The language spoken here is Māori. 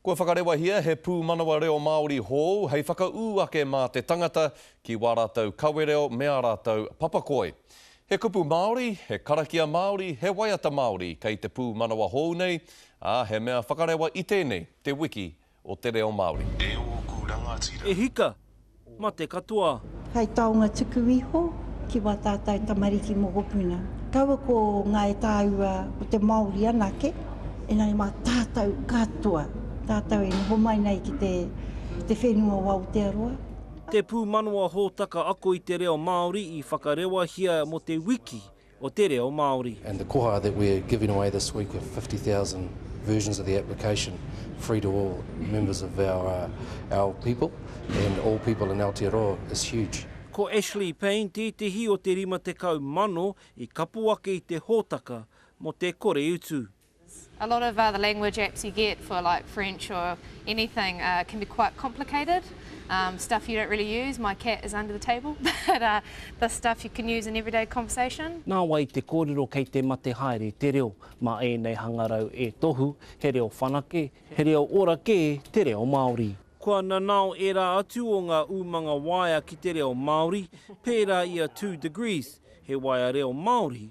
Kua whakarewahia he pūmanawa reo Māori hou hei whakaū ake mā te tangata ki wā rātou kawereo me ā rātou papakoi. He kupu Māori, he karakia Māori, he waiata Māori kei te pūmanawa hou nei, ā, he mea whakarewa i tēnei, te wiki o te reo Māori. E ōku rangatira. E hika! mate katoa. Hai taonga tuku iho ki wā tātau tamariki mokopuna. Kaua ko ngā e tāua ko te Māori anake, engari mā tātau katoa, tātau e noho mai nei ki te whenua o Aotearoa. Te pūmanawa hōtaka ako i te reo Māori i whakarewahia mō te wiki o te reo Māori. And the koha that we're giving away this week of fifty thousand versions of the application free to all members of our our people and all people in Aotearoa is huge. Ko Ashley Payne tētehi o te rima tekau mano i kapo ake i te hōtaka mō te kore utu. A lot of the language apps you get for like French or anything can be quite complicated, stuff you don't really use, my cat is under the table, but the stuff you can use in everyday conversation. Nā wai te kōrero kei te mate haere te reo, mā ēnei hangarau e tohu he reo whanake, he reo ora kē te reo Māori. Kua nanao ērā atu o ngā umanga waea ki te reo Māori, pērā i a Two Degrees, he waea reo Māori